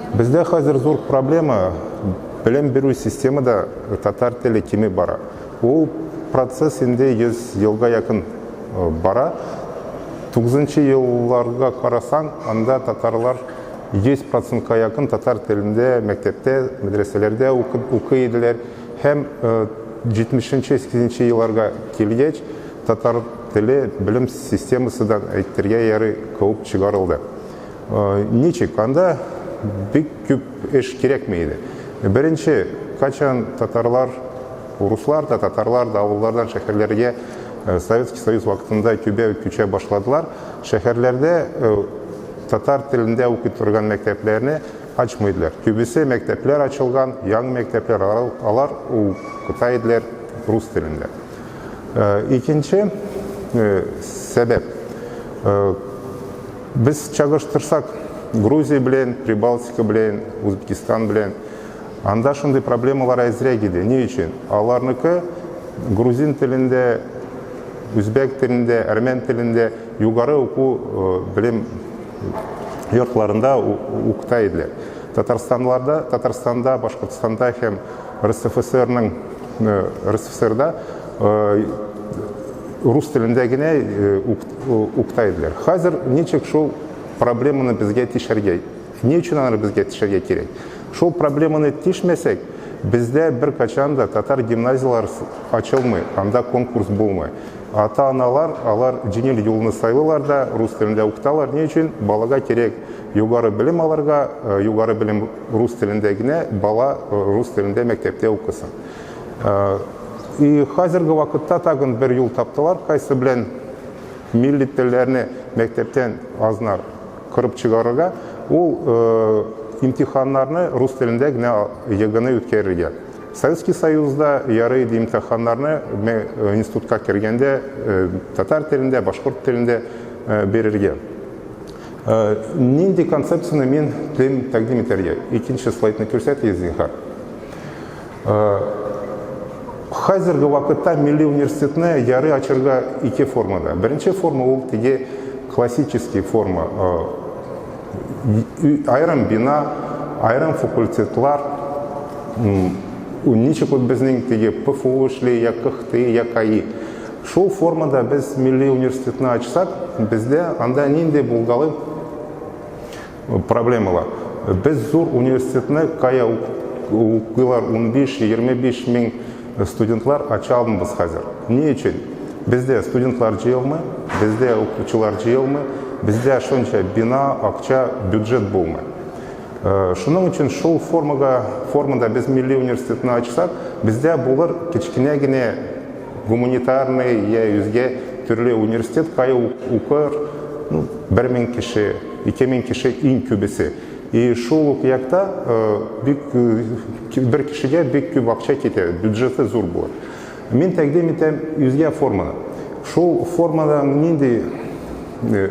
Бездә хәзер зур проблема, белем бирү системада татар теле кими бара. Ул процесс инде 100 елга якын бара. Тугызынчы елларга карасаң, анда татарлар 100 процентка якын татар телендә мәктәптә, мәдрәсәләрдә укый иделәр. Һәм 70-80 елларга килгәч, татар теле белем системасыдан, әйтергә ярый, куып чыгарылды. Ничек? Анда бик күп эш кирәкми иде. Беренче, кайчан татарлар, руслар да, татарлар да авыллардан шәһәрләргә Советский Союз вакытында көбәү күчә башладылар, шәһәрләрдә татар телендә укый торган мәктәпләрне ачмыйдылар. Күбесе мәктәпләр ачылган, яңы мәктәпләр, алар укыта иделәр рус телендә. Икенче сәбәп, Без чагыштырсак, Грузия белән, Прибалтика белән, Узбекистан белән, анда шундый проблемалар әзрәк иде. Ни өчен? Аларныкы грузин телендә, үзбәк телендә, әрмән телендә югары уку белем йортларында укыта иделәр. Татарстанларда, Татарстанда, Башкортстанда һәм РСФСРның РСФСРда рус телендә генә укыта Укта иделәр. Хәзер ничек шул проблеманы безгә тишәргә? Ни өчен аны безгә тишәргә кирәк? Шул проблеманы тишмәсәк, бездә бер качан да татар гимназияләр ачылмый, анда конкурс булмый. Ата-аналар алар җиңел юлны сайлыйлар да, рус телендә укыталар. Ни өчен? Балага кирәк югары белем алырга, югары белем рус телендә генә, бала рус телендә мәктәптә укысын. Э, и хәзерге вакытта тагын бер юл таптылар, кайсы белән милли телләрне мәктәптән азнар кырып чыгарырга, ул э, имтиханнарны рус телендә генә егыны үткәрергә. Советский Союзда ярый иде имтиханнарны э, институтка кергәндә э, татар телендә, башкорт телендә э, бирергә. Э, нинди концепцияне мин телим тәкъдим итәргә? Икенче слайдны күрсәтегез, зинһар. Хәзерге вакытта милли университетны ярый ачырга ике формада. Беренче форма ул теге классический форма. Айрым бина, айрым факультетлар. Ничек ул безнең теге ПФУ эшли, я КХТИ, я КАИ. Шул формада без милли университетны ачсак, бездә анда нинди булгалый проблемалар. Без зур университетны кая укыйлар 15-25 мең студентлар ача алмыйбыз хәзер. Ни өчен? Бездә студентлар җыелмый, бездә укучылар җыелмый, бездә шунча бина, акча, бюджет булмый. Э, шуның өчен шул формага, формада без милли университетны ачсак, бездә булыр кечкенә генә гуманитарный я үзгә төрле университет, кая укыр, ну, бер мең кеше, Ике мең кеше иң күбесе. И шул ук якта бик бер кешегә бик күп акча китә, бюджеты зур булыр. Мин тәкъдим итәм үзгә форманы. Шул формадан нинди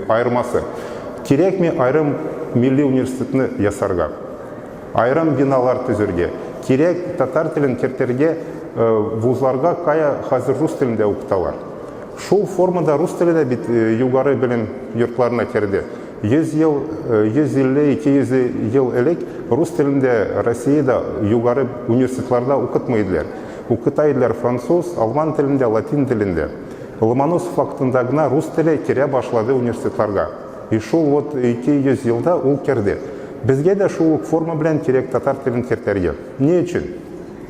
аермасы? Кирәкми аерым милли университетны ясарга, аерым биналар төзергә. Кирәк татар телен кертергә вузларга, кая хәзер рус телендә укыталар. Шул форма да рус теле дә бит югары белем йортларына керде. 100 ел, 150, 200 ел элек рус телен дә Россиядә югары университетларда укытмый иделәр. Укыта иделәр француз, алман телендә, латин телендә. Ломоносов вакытында гына рус теле керә башлады университетларга. И шул вот 200 елда ул керде. Безгә дә шул ук форма белән кирәк татар телен кертәргә. Ни өчен?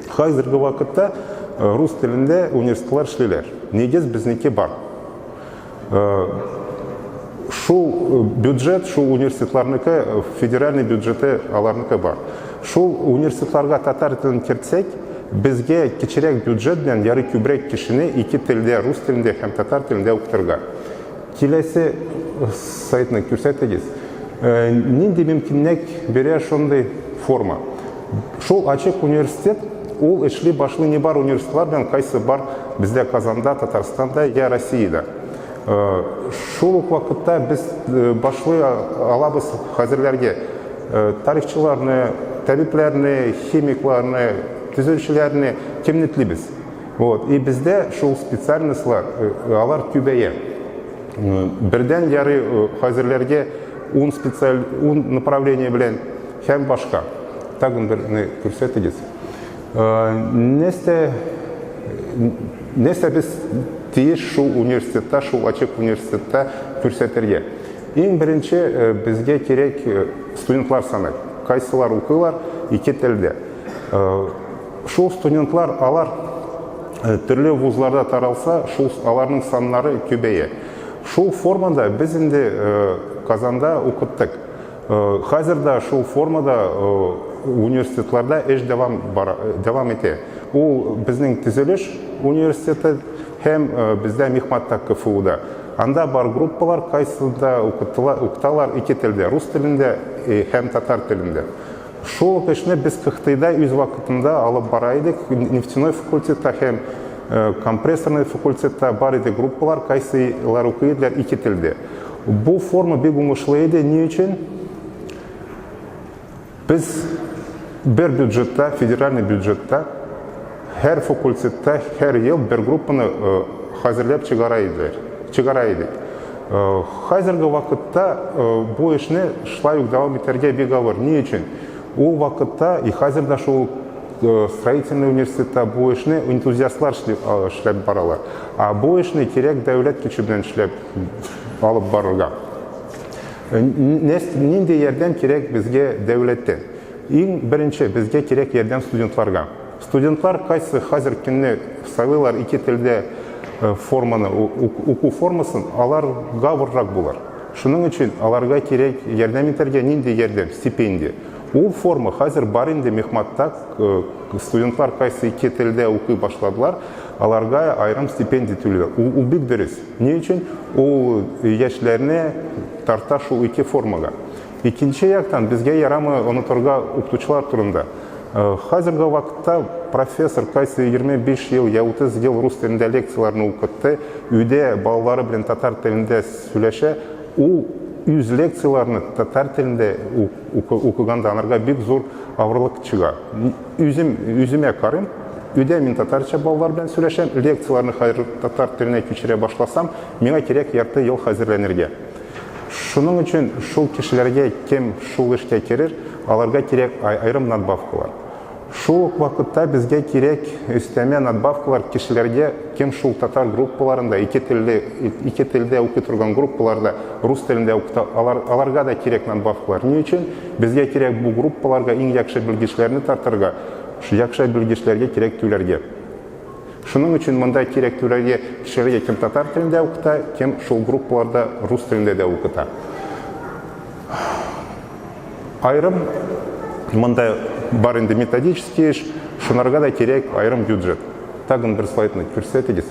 Хәзерге вакытта рус телендә университетлар эшлиләр. Нигез безнеке бар. Шул бюджет, шул университетларныкы, федеральный бюджеты аларныкы бар. Шул университетларга татар телен кертсәк, безгә кечерәк бюджет белән ярый күбрәк кешене ике телдә, рус телендә һәм татар телендә укытырга. Киләсе сайтны күрсәтегез. Э, нинди мөмкинлек бирә шундый форма? Шул ачык университет, ул эшли башлый не бар университетлар белән, кайсы бар бездә Казанда, Татарстанда я Россиядә. Э, шул ук вакытта без э, башлый алабыз хәзерләргә тарихчыларны, табибләрне, химикларны, төзүчеләрне кемне телибез? Вот. И бездә шул специальностьлар, э, алар түбәя. Э, бердән яры э, хәзерләргә 10 специаль 10 направление белән һәм башка. Тагын берне күрсәтегез. Нәрсә нәрсә без тиеш шул университетта, шул ачык университетта күрсәтергә? Иң беренче безгә кирәк студентлар саны. Кайсылар укыйлар ике телдә. Шул студентлар, алар төрле вузларда таралса, шул аларның саннары көбәя. Шул формада без инде Казанда укыттык. Хәзер дә шул формада университетларда эш дәвам бара, дәвам итә. Ул безнең төзелеш университеты һәм бездә Мехматта КФУда. Анда бар группалар кайсында укытыла, укыталар ике телдә, рус телендә һәм татар телендә. Шул ук эшне без Кыхтыйда үз вакытында алып бара идек, нефтяной факультетта һәм компрессорный факультетта бар иде группалар, кайсылар укый иделәр ике телдә. Бу форма бик уңышлы иде, ни өчен? Без бер бюджетта, федеральный бюджетта Һәр факультетта һәр ел бер группаны хәзерләп чыгара иделәр. Чыгара идек. Хәзерге вакытта бу эшне шулай ук дәвам итәргә бик авыр. Ни өчен? Ул вакытта и хәзер дә шул строительный университетта бу эшне энтузиастлар эшләп баралар. Ә бу эшне кирәк дәүләт көче белән эшләп алып барырга. Нинди ярдәм кирәк безгә дәүләттән? Иң беренче безгә кирәк ярдәм студентларга. Студентлар кайсы хәзер көнне сайлыйлар ике телдә форманы, уку формасын, алар гавыррак булыр. Шуның өчен аларга кирәк ярдәм итәргә нинди ярдәм, стипендия. Ул форма хәзер бар инде Мехматта, студентлар кайсы ике телдә укый башладылар, аларга аерым стипендия түлиләр. Ул, ул бик дөрес. Ни өчен? Ул яшьләрне тарта шул ике формага. Икенче яктан, безгә ярамы онытырга укытучылар турында. Э, хәзерге вакытта профессор кайсы 25 ел я 30 ел рус телендә лекцияләрне укытты, өйдә балалары белән татар телендә сөйләшә, ул үз лекцияләрне татар телендә укыганда анарга бик зур авырлык чыга. Үзем үземә карыйм, өйдә мин татарча балалар белән сөйләшәм, лекцияләрне хәзер татар теленә күчерә башласам, миңа кирәк ярты ел хәзерләнергә. Шуның өчен шул кешеләргә кем шул эшкә керер, аларга кирәк аерым надбавкалар. Шул ук вакытта безгә кирәк өстәмә надбавкалар кешеләргә, кем шул татар группаларында, ике телле, ике телдә укый торган группаларда рус телендә укыта, алар, аларга да кирәк надбавкалар. Ни өчен? Безгә кирәк бу группаларга иң яхшы белгечләрне тартырга, яхшы белгечләргә кирәк түләргә. Шуның өчен монда кирәк түләргә кешегә кем татар телендә укыта, кем шул группаларда рус телендә дә укыта. Аерым монда бар инде методический эш, шунарга да кирәк аерым бюджет. Тагын бер слайдны күрсәтегез.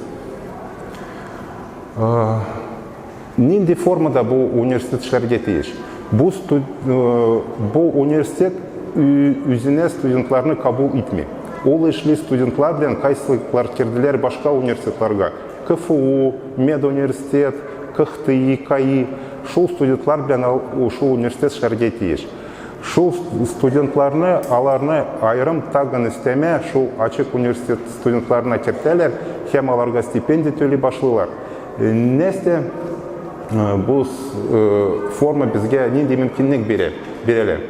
Нинди формада бу университет эшләргә тиеш? Бу, студ... Э, бу университет үзенә студентларны кабул итми. Ул эшли студентлар белән кайсы квартирдиләр башка университетларга. КФУ, медуниверситет, КХТИ, КАИ. Шул студентлар белән шул университет эшләргә тиеш. Шул студентларны, аларны айрым тагын өстәмә шул ачык университет студентларына кертәләр һәм аларга стипендия түли башлыйлар. Э, Нәстә э, бу э, форма безгә нинди мөмкинлек бирә? Бирәләр.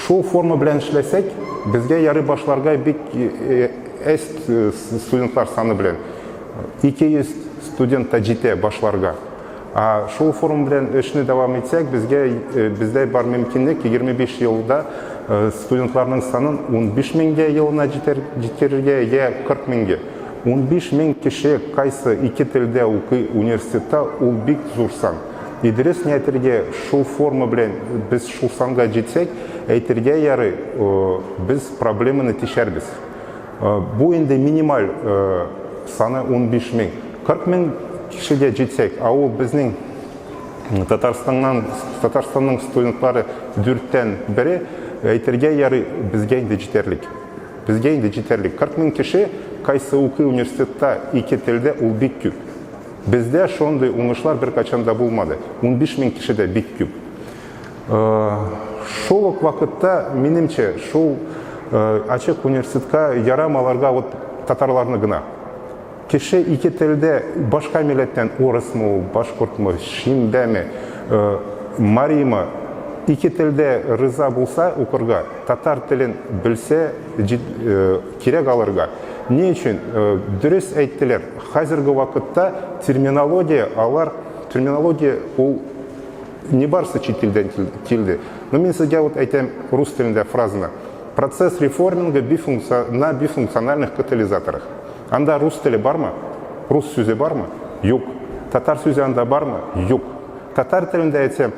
Шул форма белән эшләсәк, безгә ярый башларга бик әз студентлар саны белән 200 студент та җитә башларга. А шул форма белән эшне дәвам итсәк, безгә бездә бар мөмкинлек 25 елда студентларның санын 15 меңгә елына җитәргә, я 40 меңгә. Унбиш мең кеше кайсы ике телдә укый университетта ул бик зур сан. И дөрес ни әйтергә шул форма белән без шул санга җитсәк әйтергә ярый без проблеманы тишәрбез. Бу инде минималь саны унбиш мең. Кырык мең кешегә җитсәк, ә ул безнең Татарстаннан Татарстанның студентлары дүрттән бере әйтергә ярый безгә инде җитәрлек. Безгә инде җитәрлек. 40 мең кеше кайсы укый университетта, ике телдә, ул бик күп. Бездә шундый уңышлар беркайчан да булмады. Унбиш мең кеше дә бик күп. Шул ук вакытта, минемчә, шул ачык университетка ярамый аларга вот татарларны гына. Кеше ике телдә башка милләттән урысмы ул, башкортмы, шимбәме, мариймы, ике телдә риза булса укырга, татар телен белсә кирәк алырга. Ни өчен? Дөрес әйттеләр, хәзерге вакытта терминология алар, терминология ул нибарысы чит илдән килде. Ну мин сезгә вот әйтәм рус телендә фразаны, процесс реформинга на бифункциональных катализаторах. Анда рус теле бармы? Рус сүзе бармы? Юк. Татар сүзе анда бармы? Юк. Татар телендә әйтсәм,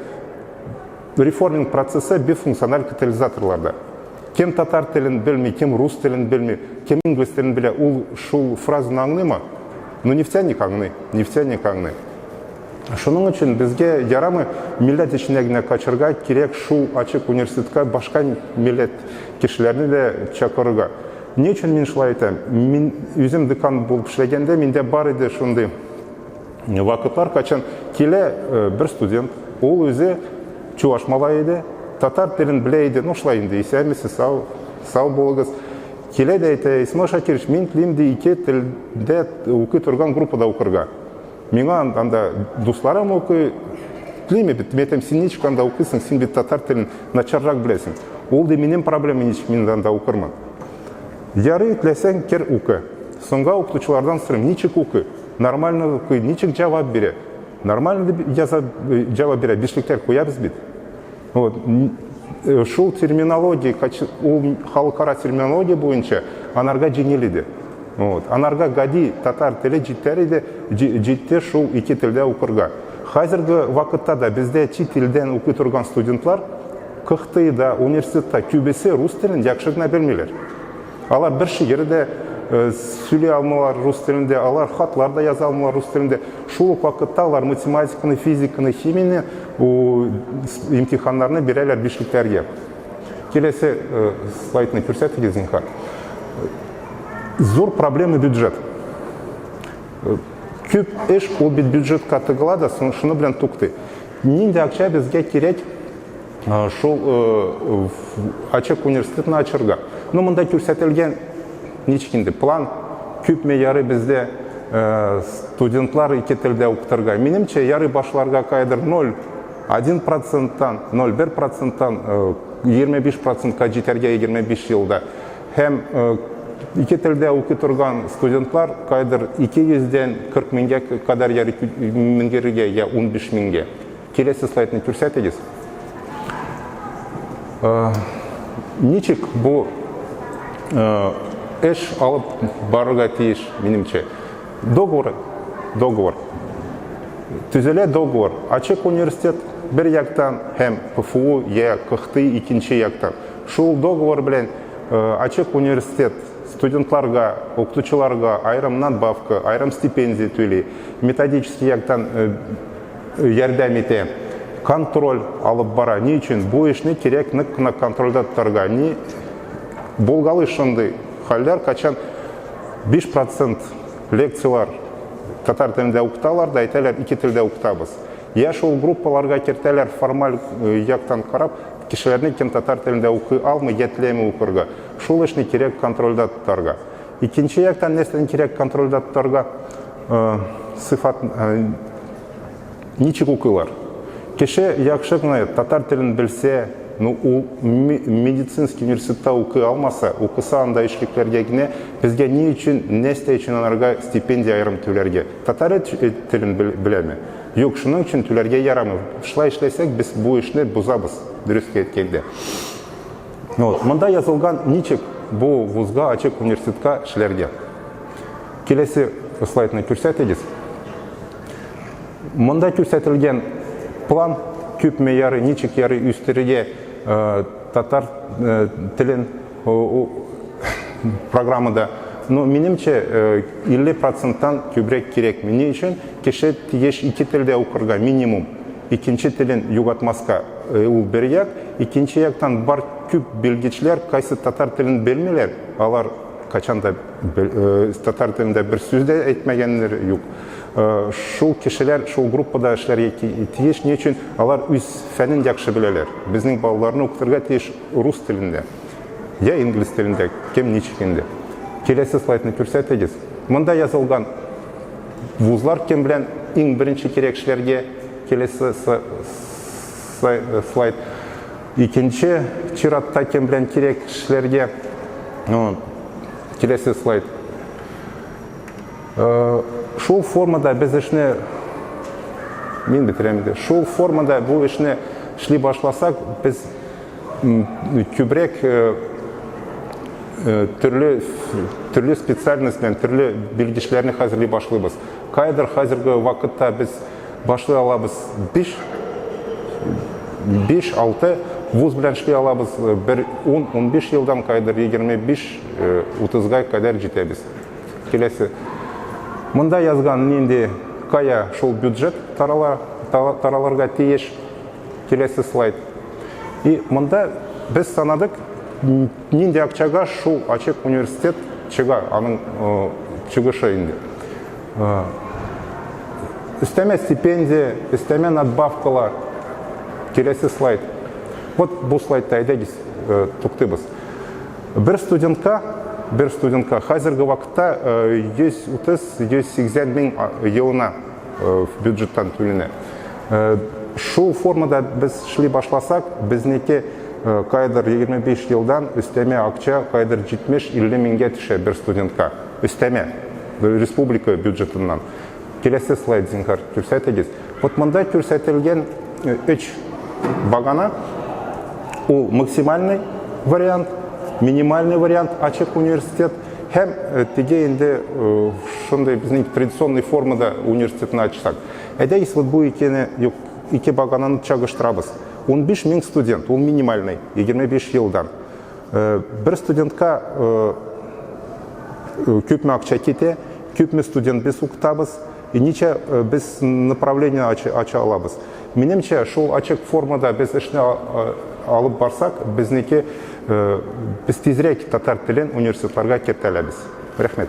реформинг процессы бер функциональ катализаторларда. Кем татар телен белми, кем рус телен белми, кем инглиз телен белә, ул шул фразаны аңлыймы? Ну, нефтяник аңлый, нефтяник аңлый. Шуның өчен безгә ярамый милләт эченә генә качырга, кирәк шул ачык университетка башка милләт кешеләрне дә чакырырга. Ни өчен мин шулай әйтәм? Мин үзем декан булып эшләгәндә миндә бар иде шундый вакытлар, кайчан килә э, бер студент, ул үзе чуваш малае иде, татар телен белә иде, ну шулай инде, исәнмесез, сау, сау булыгыз. Килә дә әйтә, Исмаил Шакирович, мин телим ди ике телдә укый торган группада укырга. Миңа анда дусларым укый, телим бит, мен әйтәм, син ничек анда укыйсың, син бит татар телен начаррак беләсең. Ул ди, минем проблема ничек мин анда укырмын. Ярый, теләсәң, кер укы. Соңга укытучылардан сорыйм, ничек укый, нормально укый, ничек җавап бирә. Нормально дип җавап бирә, бишлектәр куябыз бит. Вот. Э, шул терминология, ул халыкара терминология буенча анарга җиңел иде. Вот. Анарга гади татар теле җитәр иде, җитте шул ике телдә укырга. Хәзерге вакытта да бездә чит телдән укый торган студентлар КХТИда, университетта күбесе рус телен яхшы гына белмиләр. Алар бер шигырь дә э, сөйли алмыйлар рус телендә, алар хатлар да яза алмыйлар рус телендә. Шул ук вакытта алар математиканы, физиканы, химияне, имтиханнарны бирәләр бишлекләргә. Киләсе э, слайдны күрсәтегез, зинһар. Зур проблема бюджет. Э, күп эш ул бит бюджетка тыгыла да, шуны белән туктый. Нинди акча безгә кирәк Э, шул э, ачык университетны ачырга ну монда күрсәтелгән ничек инде план күпме ярый бездә э, студентлар ике телдә укытырга минемчә ярый башларга кайдыр ноль один проценттан ноль бер проценттан егерме биш процентка җитәргә егерме биш елда һәм ике телдә укый торган студентлар кайдыр ике йөздән кырык меңгә кадәр меңгерергә я унбиш меңгә Киләсе слайдны күрсәтегез. Э, ничек бу э, эш алып барырга тиеш, минемчә? Договор, договор. Төзелә договор. Ачык университет бер яктан һәм КФУ я КХТИ икенче яктан. Шул договор белән э, ачык университет студентларга, укытучыларга айрым надбавка, айрым стипендия түли. Методический яктан ярдәм итә, контроль алып бара. Ни өчен? Бу эшне кирәк нык кына контрольдә тотарга. Ни булгалый шундый хәлләр, кайчан 5 процент лекцияләр татар телендә укыталар да әйтәләр, ике телдә укытабыз. Я шул группаларга кертәләр формаль яктан карап, кешеләрне кем татар телендә укый алмый, я теләми укырга. Шул эшне кирәк контрольдә тотарга. Икенче яктан нәрсәне кирәк контрольдә тотарга? Э, сыйфат э, ничек укыйлар? Кеше яхшы гына татар телен белсә, ну ул медицинский университетта укый алмаса, укыса анда эшлекләргә генә безгә ни өчен, нәрсә өчен аларга стипендия аерым түләргә? Татар э, телен беләме? Юк, шуның өчен түләргә ярамый. Шулай эшләсәк, без бу эшне бозабыз, дөрескә әйткәндә. Ну, вот, монда язылган ничек бу вузга, ачык университетка эшләргә. Киләсе слайдны күрсәтегез. Монда күрсәтелгән план күпме яры, ничек яры үстерергә э, татар э, телен программада но минемчә 50 э, проценттан күбрәк кирәкми ни өчен кеше тиеш ике телдә укырга минимум Икенче телен югатмаска ул бер як, икенче яктан бар күп белгечләр кайсы татар телен белмиләр, алар кайчан да татар телендә бер сүз дә әйтмәгәннәр юк. Шул кешеләр шул группада эшләргә тиеш, ни өчен алар үз фәнен яхшы беләләр. Безнең балаларны укытырга тиеш рус телендә, я инглиз телендә, кем ничек инде. Киләсе слайдны күрсәтегез. Монда язылган. Вузлар кем белән иң беренче кирәк эшләргә? Келесе слайд. Икенче чиратта кем белән кирәк эшләргә? Келесе слайд. Шул формада без эшне мин бетерәм инде. Шул формада бу эшне эшли башласак, без Күбрәк төрле специальность белән төрле белгечләрне хәзерли башлыйбыз. Кайдыр хәзерге вакытта без башлый алабыз биш, биш-алты вуз белән эшли алабыз. Бер ун-унбиш елдан кайдыр егерме биш-утызга кадәр җитәбез. Киләсе. Монда язган нинди, кая шул бюджет тарала, таралырга тиеш. Киләсе слайд. И монда без санадык, нинди акчага шул ачык университет чыга, аның чыгышы инде. Өстәмә стипендия, өстәмә надбавкалар. Киләсе слайд. Вот бу слайдта әйдәгез, туктыйбыз. Бер студентка, бер студентка хәзерге вакытта 130-180 мең елына э, в бюджеттан түленә. Э, шул формада без эшли башласак, безнеке э, кайдыр 25 елдан өстәмә акча кайдыр 70-50 меңгә төшә бер студентка. Өстәмә республика бюджетыннан. Келәсе слайд зинхар күрсәтегез. Вот монда күрсәтелгән 3 багана ул максимальный вариант, минимальный вариант ачык университет Һәм э, теге инде э, шундый безнең традиционный формада университетны ачсак. Әйдәгез, вот бу икене, юк, ике багананы чагыштырабыз. 15 мең студент, ул минимальный, 25 елдан. Э, бер студентка күпме акча китә, күпме студент без укытабыз, Ничә без направление ача алабыз? Минемчә, шул ачык формада без эшне алып барсак, безнеке, без тизрәк татар телен университетларга кертә алабыз. Рәхмәт.